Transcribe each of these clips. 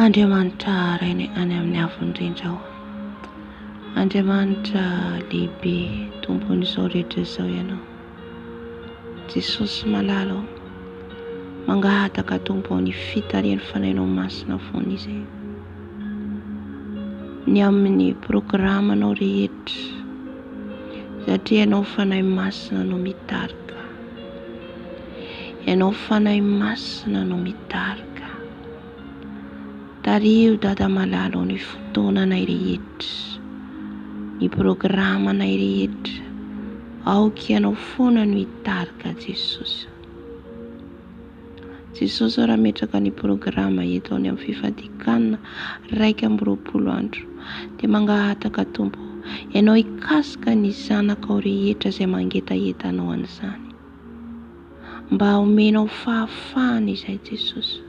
Andriamanitra haraina any amin'ny avo indrindra aho. Andriamanitra lehibe tompon'izao rehetra izao ianao. Jesosy malala o, mangahataka Tompo ao ny fitarihan'ny fanahinao masina foana izay. Ny amin'ny programanao rehetra, satria ianao fanahy masina no mitarika. Ianao Fanahy Masina no mitarika. Tariho Dada Malala ny fotoananay rehetra, ny programanay rehetra. Aoka Ianao foana no hitarika Jesosy. Jesosy raha hametraka ny programa eto any amin'ny fifadiakana iraika amby roapolo andro dia mangahataka Tompo Ianao hikasika ny zanakao rehetra izay mangetaheta Anao an'izany. Mba omenao fahafahana izay Jesosy.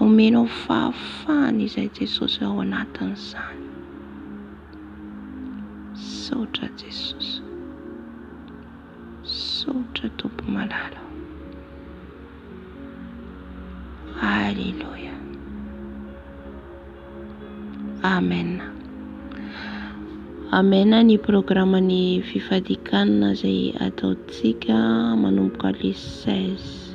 Omenao fahafahana izay Jesosy ao anatin'izany. Misaotra Jesosy. Misaotra Tompo malala ô. Aleloia. Amen. Amen ny programme ny fifadikanana izay ataontsika manomboka le 16.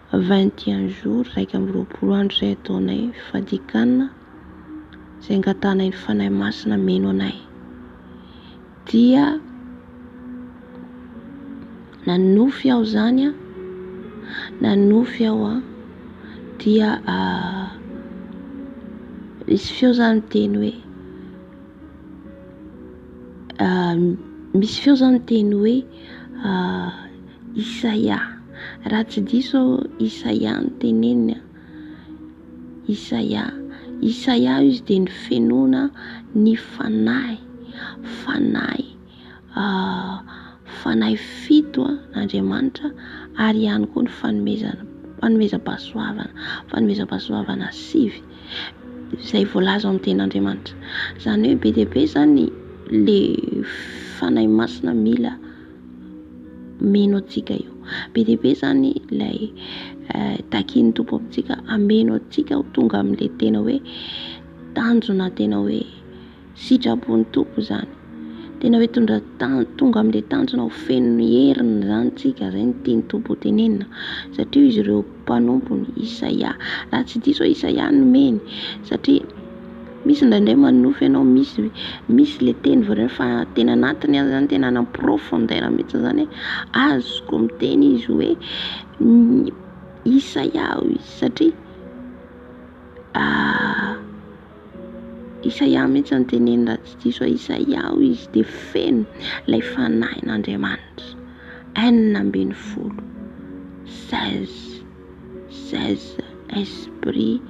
Vingt et un jours, iraika amby roapolo andro, izay ataonay fadikanana, izay angatahanay ny Fanahy Masina hameno anay. Dia nanonofy aho izany an, nanonofy aho an, dia nisy feo izany miteny hoe misy feo izany miteny hoe. Isaia. Raha tsy diso aho Isaia no teneniny a. Isaia. Isaia izy dia ny fenoana ny fanahy. Fanahy fanahy fito an'Andriamanitra ary ihany koa ny fanomezana fanomezam-pahasoavana. Fanomezam-pahasoavana sivy izay voalaza ao amin'ny tenin'Andriamanitra. Izany hoe be dia be izany ilay fanahy masina mila. hameno antsika io. Be dia be izany ilay takin'ny Tompo amintsika hameno antsika ho tonga amin'ilay tena hoe tanjona tena hoe sitrapon'ny Tompo izany. Tena hoe tonga tonga amin'ilay tanjona ho feno heriny izany isika, izay no tian'ny Tompo hotenenina satria izy ireo. mpanompony Isaia. Raha tsy diso aho Isaia no nomeny satria misy indraindray manonofy ianao misy misy le teny voalaza fa teny anatiny any zany tena any am-profondeur mihitsy zany hoe azoko miteny izy hoe Isaia hoy izy satria Isaia mihitsy no teneniny raha tsy diso aho, Isaia hoy izy dia feno ilay fanahin'Andriamanitra, enina ambin'ny folo, seize, seize esprit,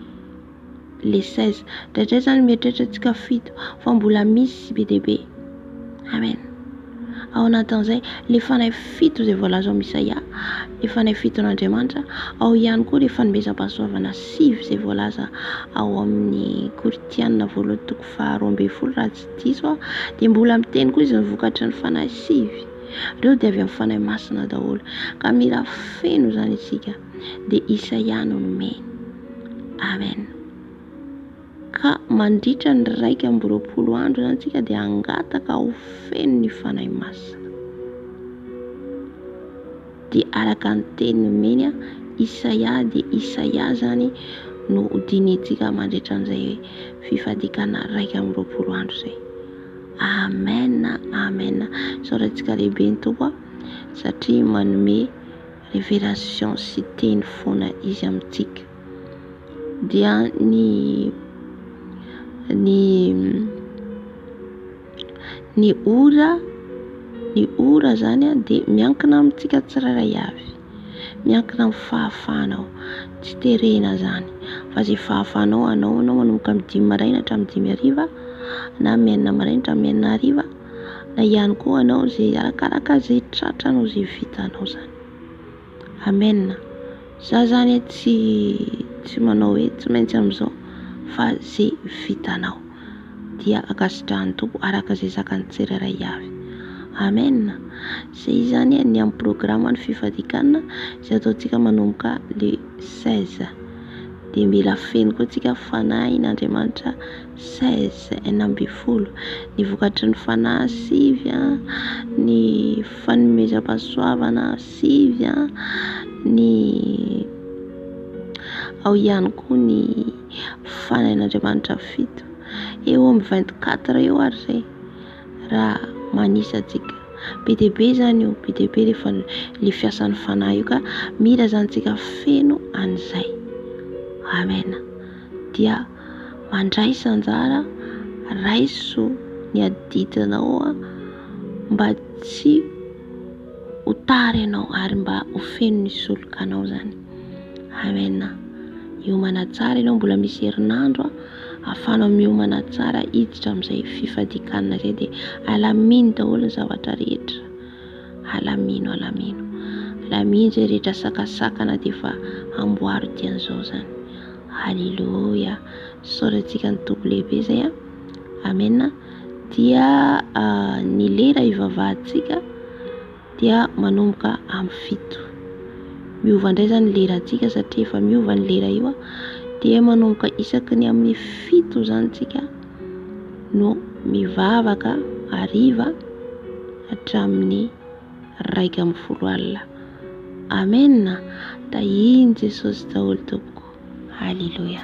les seize, indraindray izany mieritreritra antsika fito fa mbola misy be dia be. Amen. Ao anatin'izay, ilay fanahy fito izay voalaza ao amin'i Isaia, ilay fanahy fiton'Andriamanitra, ao ihany koa ilay fanomezam-pahasoavana sivy izay voalaza ao amin'ny Korintiana voalohany toko faharoa ambin'ny folo raha tsy diso aho, dia mbola miteny koa izy ny vokatry ny fanahy sivy, ireo dia avy amin'ny fanahy masina daholo. Ka mila feno izany isika, dia Isaia no nomeny. Amen. Ka mandritra ny iraika amby roapolo andro izany isika dia hangataka ho feno ny Fanahy Masina. Dia araka ny teny nomeny Isaia dia Isaia izany no hodinihintsika mandritra an'izay fifadiakana iraika amby roapolo andro izay. Amen, amen. Isaorantsika lehibe ny Tompo satria manome révélation sy teny foana izy amintsika. dia ny ny ny ora ny ora zany a de miankina amintsika tsirairay avy, miankina amin'ny fahafahanao, tsy terena zany fa ze fahafahanao anao anao manomboka amin'ny dimy maraina hatramin'ny dimy hariva na amin'ny enina maraina hatramin'ny enina hariva na ihany koa anao ze arakaraka ze tratranao ze vitanao zany. Amen za zany tsy tsy manao hoe tsy maintsy amin'izao fa ze vitanao dia ankasitrahan'ny Tompo araka izay zakan'ny tsirairay avy Amen ze izany a ny amin'ny programme ny fifadikanana izay ataontsika manomboka le seize de mila feno koa tsika fanahin'Andriamanitra seize enina ambin'ny folo ny vokatry ny fanahy sivy a ny fanomezam-pahasoavana sivy a, ny ao ihany koa ny fanahin'Andriamanitra fito eo amin'ny vingt quatre eo ary izay raha manisa antsika, be dia be izany io, be dia be ilay fana- ilay fiasan'ny fanahy io ka mila izany tsika feno an'izay, Amen, dia mandraisa anjara raiso ny adidinao mba tsy ho tara ianao ary mba ho feno ny solokanao zany amen miomana tsara ianao mbola misy herinandro ahafanao miomana tsara hiditra amin'izay fifadikanana izay dia alamino daholo ny zavatra rehetra alamino alamino alamino izay rehetra sakasakana dia efa amboaro dian'izao zany aleloia soratsika ny tompo lehibe zay a amen dia ny lera hivavahantsika dia manomboka amin'ny fito. Miova indray izany ny lerantsika satria efa miova ny lera io dia manomboka isaky ny amin'ny fito izany isika no mivavaka hariva hatramin'ny iraika ambin'ny folo alina. Amena. Tahian'i Jesosy daholo tompoko. Aleloia.